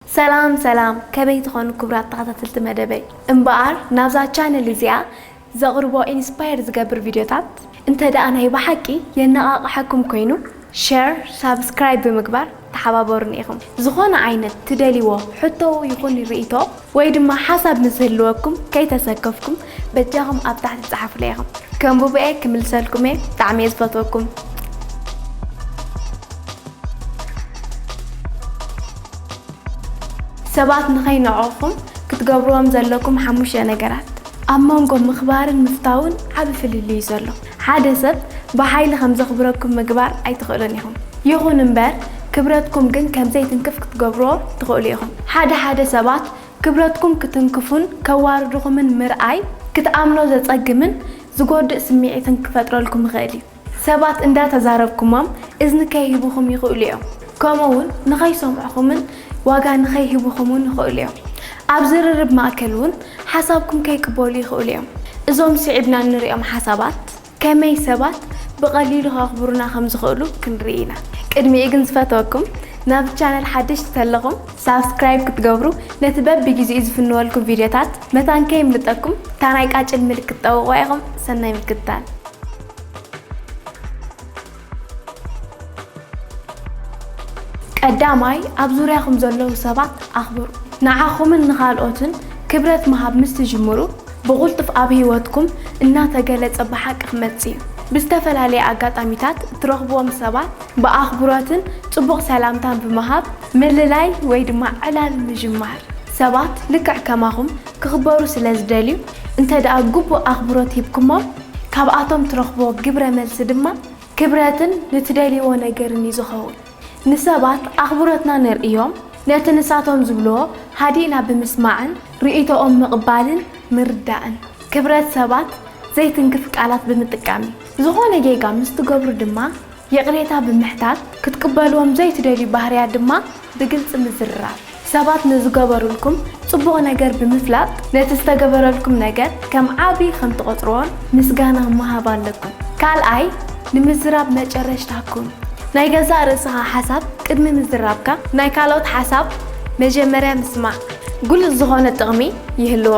ሰላም ሰላም ከመይ ትኾኑ ክብራት ተኸታተልቲ መደበይ እምበኣር ናብዛ ቻነል እዚኣ ዘቕርቦ ኢንስፓየር ዝገብር ቪድዮታት እንተ ደኣ ናይ ብሓቂ የነቓቕሓኩም ኮይኑ ሸር ሳብስክራይብ ብምግባር ተሓባበሩኒ ኢኹም ዝኾነ ዓይነት ትደልይዎ ሕቶ ይኹን ርኢቶ ወይ ድማ ሓሳብ ምስ ዝህልወኩም ከይተሰከፍኩም በጃኹም ኣብ ታሕቲ ጸሓፉለይ ኢኹም ከንብቦ'የ ክምልሰልኩም'የ ብጣዕሚ'የ ዝፈትወኩም። ሰባት ንኸይንዕቑኹም ክትገብርዎም ዘለኩም ሓሙሽተ ነገራት። ኣብ መንጎ ምኽባርን ምፍታውን ዓቢ ፍልልይ'ዩ ዘሎ። ሓደ ሰብ ብሓይሊ ከም ዘኽብረኩም ምግባር ኣይትኽእሉን ኢኹም። ይኹን'ምበር ክብረትኩም ግን ከም ዘይትንክፍ ክትገብርዎ ትኽእሉ ኢኹም። ሓደ ሓደ ሰባት ክብረትኩም ክትንክፉን ከዋርድኹምን ምርኣይ ክትኣምኖ ዘጸግምን ዝጎድእ ስምዒትን ክፈጥረልኩም ይኽእል እዩ። ሰባት እንዳተዛረብኩሞም እዝኒ ከይህቡኹም ይኽእሉ እዮም፣ ከምኡ'ውን ንኸይሰምዑኹምን ዋጋ ንኸይህቡኹምን ይኽእሉ እዮም። ኣብ ዝርርብ ማእከል እውን ሓሳብኩም ከይቅበሉ ይኽእሉ እዮም። እዞም ስዒብና እንርእዮም ሓሳባት ከመይ ሰባት ብቐሊሉ ከኽብሩና ከም ዝኽእሉ ክንርኢ ኢና። ቅድሚኡ ግን ዝፈትወኩም ናብዚ ቻነል ሓደሽቲ ተለኹም ሳብስክራይብ ክትገብሩ ነቲ በቢግዜኡ ዝፍንወልኩም ቪድዮታት መታን ከይምልጠኩም እታ ናይ ቃጭል ምልክት ጠውቑዋ ኢኹም ሰናይ ምክትታል። ቀዳማይ፣ ኣብ ዙርያኹም ዘለዉ ሰባት ኣኽብሩ። ንዓኹምን ንኻልኦትን ክብረት ምሃብ ምስ ትጅምሩ፣ ብቕልጡፍ ኣብ ህይወትኩም እናተገለጸ ብሓቂ ክመጽእ እዩ። ብዝተፈላለየ ኣጋጣሚታት እትረኽብዎም ሰባት ብኣኽብሮትን ጽቡቕ ሰላምታን ብምሃብ ምልላይ ወይ ድማ ዕላል ምጅማር። ሰባት ልክዕ ከማኹም ክኽበሩ ስለ ዝደልዩ፣ እንተድኣ ግቡእ ኣኽብሮት ሂብኩሞም፣ ካብኣቶም ትረኽቦ ግብረ መልሲ ድማ ክብረትን ንትደልይዎ ነገርን እዩ ዝኸውን። ንሰባት ኣኽብሮትና ነርእዮም ነቲ ንሳቶም ዝብልዎ ሃዲእና ብምስማዕን ርእይቶኦም ምቕባልን ምርዳእን። ክብረት ሰባት ዘይትንክፍ ቃላት ብምጥቃም እዩ። ዝኾነ ጌጋ ምስ ትገብሩ ድማ ይቕሬታ ብምሕታት፣ ክትቅበልዎም ዘይትደልዩ ባህርያት ድማ ብግልጺ ምዝርራብ። ሰባት ንዝገበሩልኩም ጽቡቕ ነገር ብምፍላጥ፣ ነቲ ዝተገበረልኩም ነገር ከም ዓቢ ከም ትቖጽርዎን ምስጋና ምሃብ ኣለኩም። ካልኣይ፣ ንምዝራብ መጨረሽታ ኩን። ናይ ገዛእ ርእስኻ ሓሳብ ቅድሚ ምዝራብካ፣ ናይ ካልኦት ሓሳብ መጀመርያ ምስማዕ ግሉጽ ዝኾነ ጥቕሚ ይህልዎ።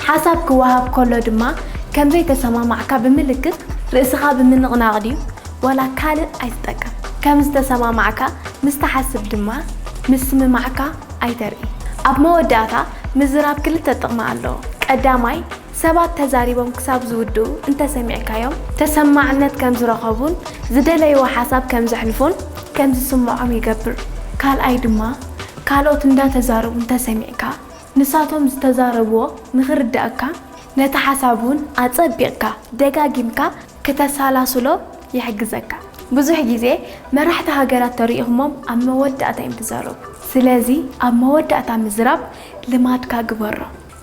ሓሳብ ክወሃብ ከሎ ድማ ከም ዘይተሰማማዕካ ብምልክት ርእስኻ ብምንቕናቕ ድዩ ዋላ ካልእ ኣይትጠቀም። ከም ዝተሰማማዕካ ምስ ትሓስብ ድማ ምስምማዕካ ኣይተርኢ። ኣብ መወዳእታ ምዝራብ ክልተ ጥቕሚ ኣለዎ። ቀዳማይ፣ ሰባት ተዛሪቦም ክሳብ ዝውድኡ እንተ ሰሚዕካዮም፣ ተሰማዕነት ከም ዝረኸቡን ዝደለይዎ ሓሳብ ከም ዘሕልፉን ከም ዝስምዖም ይገብር። ካልኣይ ድማ ካልኦት እንዳተዛረቡ እንተ ሰሚዕካ፣ ንሳቶም ዝተዛረብዎ ንኽርደኣካ ነቲ ሓሳብ እውን ኣጸቢቕካ ደጋጊምካ ክተሰላስሎ ይሕግዘካ። ብዙሕ ግዜ መራሕቲ ሃገራት ተሪኢኹሞም ኣብ መወዳእታ እዮም ዝዛረቡ። ስለዚ ኣብ መወዳእታ ምዝራብ ልማድካ ግበሮ።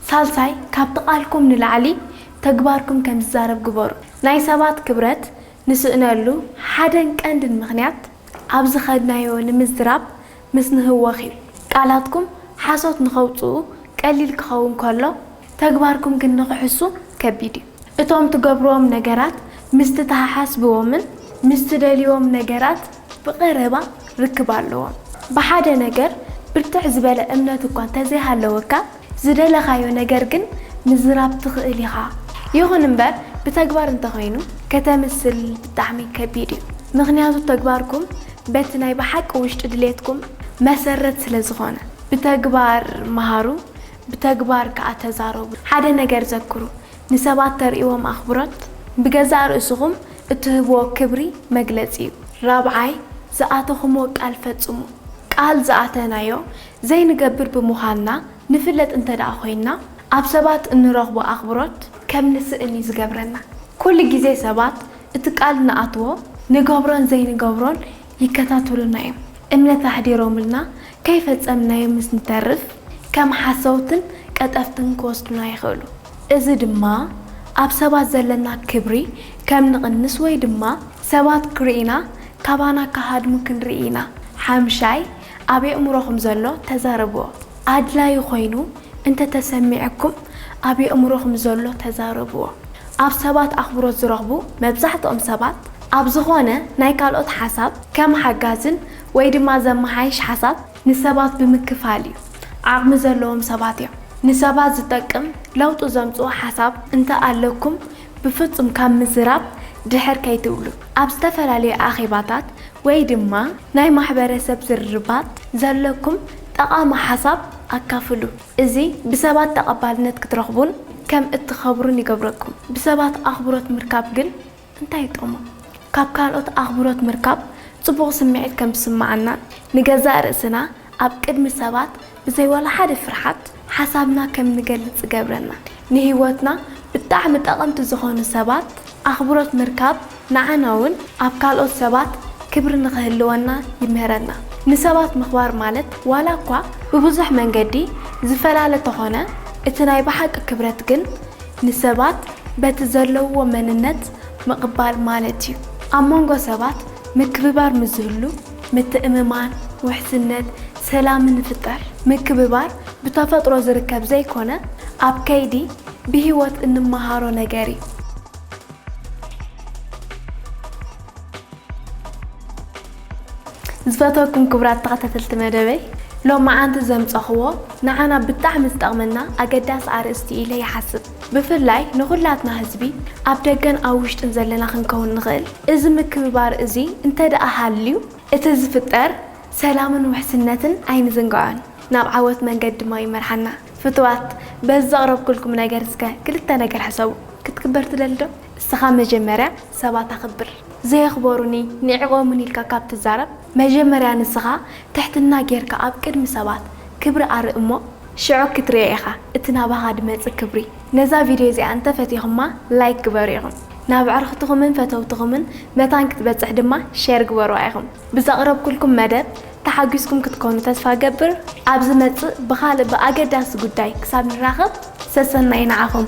ሳልሳይ ካብቲ ቃልኩም ንላዕሊ ተግባርኩም ከም ዝዛረብ ግበሩ። ናይ ሰባት ክብረት ንስእነሉ ሓደን ቀንድን ምኽንያት ኣብ ዝኸድናዮ ንምዝራብ ምስ ንህወኺ ቃላትኩም ሓሶት ንኸውጽኡ ቀሊል ክኸውን ከሎ ተግባርኩም ግን ንኽሕሱ ከቢድ እዩ። እቶም ትገብርዎም ነገራት ምስቲ ትሓሓስብዎምን ምስ ትደልይዎም ነገራት ብቐረባ ርክብ ኣለዎም። ብሓደ ነገር ብርትዕ ዝበለ እምነት እኳ እንተዘይሃለወካ ዝደለኻዮ ነገር ግን ምዝራብ ትኽእል ኢኻ። ይኹን እምበር ብተግባር እንተኾይኑ ከተምስል ብጣዕሚ ከቢድ እዩ። ምኽንያቱ ተግባርኩም በቲ ናይ ብሓቂ ውሽጢ ድሌትኩም መሰረት ስለ ዝኾነ። ብተግባር መሃሩ ብተግባር ከኣ ተዛረቡ። ሓደ ነገር ዘክሩ ንሰባት ተርእይዎም ኣኽብሮት ብገዛእ ርእስኹም እትህብዎ ክብሪ መግለጺ እዩ። ራብዓይ፣ ዝኣተኹምዎ ቃል ፈጽሙ። ቃል ዝኣተናዮ ዘይንገብር ብምዃንና ንፍለጥ እንተድኣ ኮይንና፣ ኣብ ሰባት እንረኽቦ ኣኽብሮት ከም ንስእን እዩ ዝገብረና። ኩሉ ግዜ ሰባት እቲ ቃል ንኣትዎ ንገብሮን ዘይንገብሮን ይከታተሉና እዮም። እምነት ኣሕዲሮምልና ከይፈጸምናዮ ምስ ንተርፍ ከም ሓሰውትን ቀጠፍትን ክወስዱና ይኽእሉ። እዚ ድማ ኣብ ሰባት ዘለና ክብሪ ከም ንቕንስ ወይ ድማ ሰባት ክርእዩና ካባና ክሃድሙ ክንርኢ ኢና። ሓምሻይ፣ ኣብ የእምሮኹም ዘሎ ተዛረብዎ። ኣድላዪ ኾይኑ እንተ ተሰሚዑኩም ኣብ የእምሮኹም ዘሎ ተዛረብዎ። ኣብ ሰባት ኣኽብሮት ዝረኽቡ መብዛሕትኦም ሰባት ኣብ ዝኾነ ናይ ካልኦት ሓሳብ ከም ሓጋዝን ወይ ድማ ዘመሓይሽ ሓሳብ ንሰባት ብምክፋል እዩ። ዓቕሚ ዘለዎም ሰባት እዮም። ንሰባት ዝጠቅም ለውጢ ዘምፅኡ ሓሳብ እንተ ኣለኩም ብፍጹም ካብ ምዝራብ ድሕር ከይትብሉ። ኣብ ዝተፈላለዩ ኣኼባታት ወይ ድማ ናይ ማሕበረሰብ ዝርርባት ዘለኩም ጠቓሚ ሓሳብ ኣካፍሉ። እዚ ብሰባት ተቐባልነት ክትረኽቡን ከም እትኸብሩን ይገብረኩም። ብሰባት ኣኽብሮት ምርካብ ግን እንታይ እዩ ጥቕሙ? ካብ ካልኦት ኣኽብሮት ምርካብ ጽቡቕ ስምዒት ከም ዝስምዓናን ንገዛእ ርእስና ኣብ ቅድሚ ሰባት ብዘይ ዋላ ሓደ ፍርሓት ሓሳብና ከም ንገልጽ ዝገብረና፣ ንህይወትና ብጣዕሚ ጠቐምቲ ዝኾኑ ሰባት ኣኽብሮት ምርካብ ንዓና ውን ኣብ ካልኦት ሰባት ክብሪ ንኽህልወና ይምህረና። ንሰባት ምኽባር ማለት ዋላ እኳ ብብዙሕ መንገዲ ዝፈላለ ተኾነ እቲ ናይ ብሓቂ ክብረት ግን ንሰባት በቲ ዘለውዎ መንነት ምቕባል ማለት ዩ። ኣብ መንጎ ሰባት ምክብባር ምስ ዝህሉ፣ ምትእምማን፣ ውሕስነት፣ ሰላምን ይፍጠር። ምክብባር ብተፈጥሮ ዝርከብ ዘይኮነ ኣብ ከይዲ ብህይወት እንመሃሮ ነገር እዩ። ዝፈትወኩም ክቡራት ተኸታተልቲ መደበይ ሎምዓንቲ ዘምፀኹዎ ንዓና ብጣዕሚ ዝጠቕመና ኣገዳሲ ኣርእስቲ እዩ ኢለ ይሓስብ። ብፍላይ ንኹላትና ህዝቢ ኣብ ደገን ኣብ ውሽጥን ዘለና ክንከውን ንኽእል። እዚ ምክብባር እዚ እንተድኣ ሃልዩ እቲ ዝፍጠር ሰላምን ውሕስነትን ኣይንዝንግዖን፣ ናብ ዓወት መንገዲ ድማ ይመርሓና። ፍቱዋት በዚ ዘቕረብኩልኩም ነገር እስከ ክልተ ነገር ሕሰቡ። ክትክበር ትደሊ ዶ? እስኻ መጀመርያ ሰባት ኣኽብር። ዘየኽበሩኒ ንዒቖሙኒ ኢልካ ካብ ትዛረብ መጀመርያ ንስኻ ትሕትና ጌርካ ኣብ ቅድሚ ሰባት ክብሪ ኣርኢ እሞ ሽዑ ክትሪኦ ኢኻ እቲ ናባኻ ድመጽእ ክብሪ። ነዛ ቪድዮ እዚኣ እንተ ፈቲኹማ ላይክ ግበሩ ኢኹም ናብ ኣዕርኽትኹምን ፈተውትኹምን መታን ክትበጽሕ ድማ ሼር ግበሩዋ ኢኹም። ብዘቕረብኩልኩም መደብ ተሓጒስኩም ክትኮኑ ተስፋ እገብር። ኣብ ዝመጽእ ብኻልእ ብኣገዳሲ ጉዳይ ክሳብ ንራኸብ ሰሰናዩ ንዓኹም።